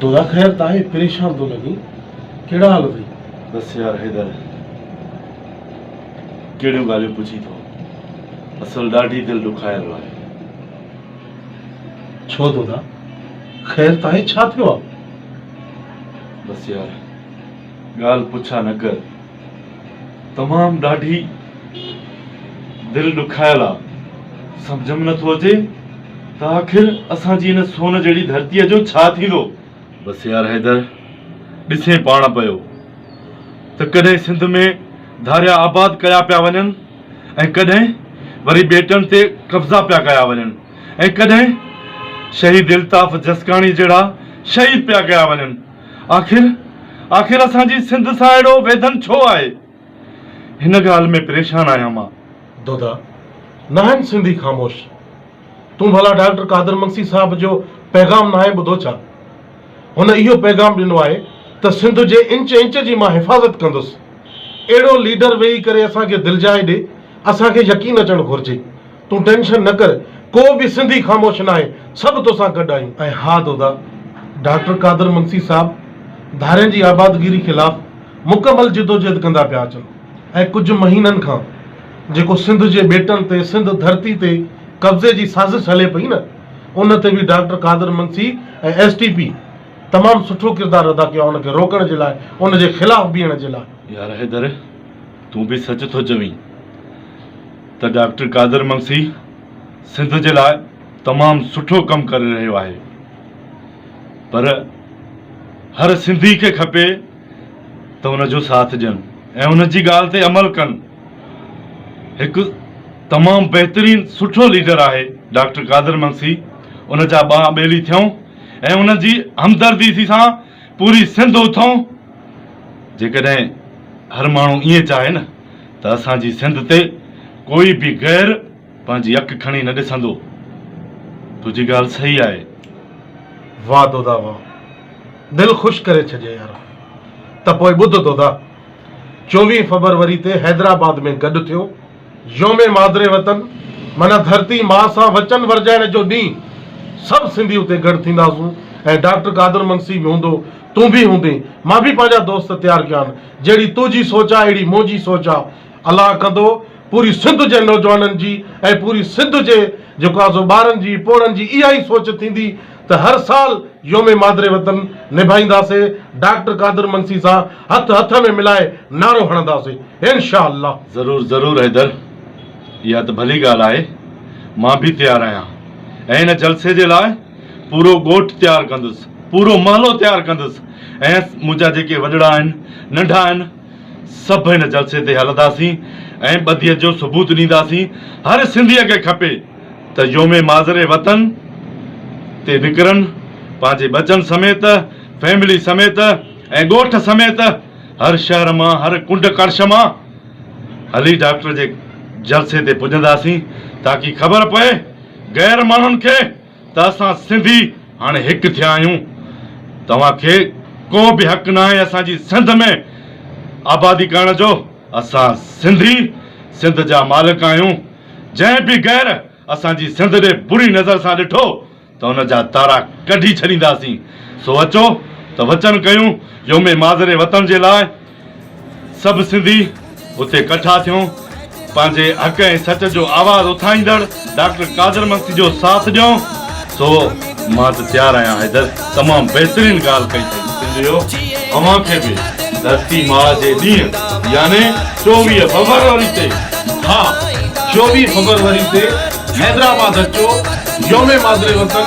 دادا خير تاهي پريشان ٿو لڳين ڪهڙا حال اٿئي. بس يار حيدر ڪهڙيون ڳالهيون پڇين ٿو اصل ڏاڍي دل ڏکايل آهي. ڇو دادا خير تاهي ڇا ٿيو آهي. بس يار ڳالهه پڇا نه ڪر. تمام ڏاڍي دل ڏکايل آ سمجهه م نٿو اچي ته آخر اسان جي ان سون جهڙي ڌرتي جو ڇا ٿيندو. بس يار حيدر ڏسين پاڻ پيو ته ڪڏهن سنڌ ۾ ڌاريا آباد ڪيا پيا وڃن ۽ ڪڏهن وري ٻيٽن تي قبضا پيا ڪيا وڃن ۽ ڪڏهن شهيد الطاف جسڪاڻي جهڙا شهيد پيا ڪيا وڃن. آخر آخر اسان جي سنڌ سان اهڙو ويڌن ڇو آهي؟ هن ڳالهه ۾ پريشان آهيان مان. دودا، ناهن سنڌي خاموش؟ تون ڀلا ڊاڪٽر قادر منسي صاحب جو پيغام ناهين ٻڌو ڇا؟ هن اهو پيغام ڏنو آهي ته سنڌ جي انچ انچ جي مان حفاظت ڪندس. اهڙو ليڊر ويهي ڪري اسان کي دلجائي ڏي، اسان کي يقين اچڻ گهرجي. تون ٽينشن نه ڪر ڪو به سنڌي خاموش ناهي سڀ توسان گڏ آهيون. ۽ ها دودا ڊاڪٽر قادر منسي صاحب ڌارين جي آبادگيري خلاف مڪمل جدوجهد ڪندا پيا اچن ۽ ڪجهه مهينن کان جيڪو سنڌ جي ٻيٽن تي سنڌ ڌرتي تي قبضي جي سازش هلي پئي نه ان تي به doctor Qadir Mangsi ۽ S T P تمام سٺو ڪردار ادا ڪيو آهي ان کي روڪڻ جي لاء ان جي خلاف بيهڻ جي لاء. يار حيدر. تون به سچ ٿو چوين ته ڊاڪٽر قادر منگسي سنڌ جي لاء تمام سٺو ڪم ڪري رهيو آهي پر هر سنڌي کي کپي ته ان جو ساٿ ڏين ۽ ان جي ڳالهه تي عمل ڪن هڪ تمام بهترين سٺو ليڊر آهي ڊاڪٽر قادر منگسي ان جا ٻانهن ٻيلي ٿيون ۽ ان جي همدردي سان پوري سنڌ اٿئون جيڪڏهن هر ماڻهو ائين چاهي نه ته اسان جي سنڌ تي ڪوئي به غير پنهنجي اک کڻي نه ڏسندو. تنهنجي ڳالهه صحيح آهي. واھ دودا واھ دل خوش ڪري ڇڏيئي يارا ته پوء ٻڌ دودا چوويهه فبروري تي حيدرآباد ۾ گڏ ٿيو. يوم مادر وطن معنيٰ ڌرتي ماء سان وچن ورجائڻ جو ڏينهن، سڀ سنڌي اتي گڏ ٿينداسون ۽ ڊاڪٽر قادر منسي به هوندو، تون به هوندين، مان به پنهنجا دوست تيار ڪيا آهن، جهڙي تو جي سوچ آهي اهڙي مون جي سوچ آهي، الله ڪندو پوري سنڌ جي نوجوانن جي ۽ پوري سنڌ جي جيڪو آهي سو ٻارن جي پوڙهن جي اها ئي سوچ ٿيندي، ته هر سال يوم مادر وطن نڀائينداسي ڊاڪٽر قادر منسي سان هٿ هٿ ۾ ملائي نعرو هڻنداسي انشاء الله. ضرور ضرور حيدر اها ته ڀلي ڳالهه آهي مان به تيار آهيان ۽ ان جلسي جي لاء پورو ڳوٺ تيار ڪندس پورو محلو تيار ڪندس ۽ منهنجا جيڪي وڏڙا آهن ننڍا آهن سڀ ان جلسي تي هلنداسين ۽ ٻڌيت جو ثبوت ڏينداسين هر سنڌيء کي کپي ته يوم ماضري وطن تي نڪرن پنهنجي ٻچن سميت فيملي سميت ۽ ڳوٺ سميت هر شهر مان هر ڪنڊ ڪڙڇ مان هلي ڊاڪٽر جي جلسي تي پڄنداسين تاڪي خبر پئي غير ماڻهن کي ته اسان سنڌي هاڻي هڪ ٿيا آهيون توهان کي ڪو به حق ناهي اسان جي سنڌ ۾ آبادي ڪرڻ جو اسان سنڌي سنڌ جا مالڪ آهيون. جنهن به غير اسان جي سنڌ ڏي بري نظر سان ڏٺو ته ان جا تارا ڪڍي ڇڏينداسين، سو اچو ته وچن ڪيون يوم ماضري وطن جي لاء سڀ سنڌي اتي ڪٺا ٿيون پنهنجي حق ۽ سچ جو آواز اٿائيندڙ ڊاڪٽر قادر منسي جو ساٿ ڏيون، سو. مان ته تيار آهيان حيدر. تمام بهترين ڳالهه ڪئي اٿئي سنڌيو اوهان کي به ڌرتي ماء جي ڏينهن يعني چوويهه فبروري تي ها چوويهه فبروري تي حيدرآباد اچو يوم مادر وطن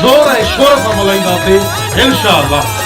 زور ۽ شور سان ملهائينداسي انشاء الله.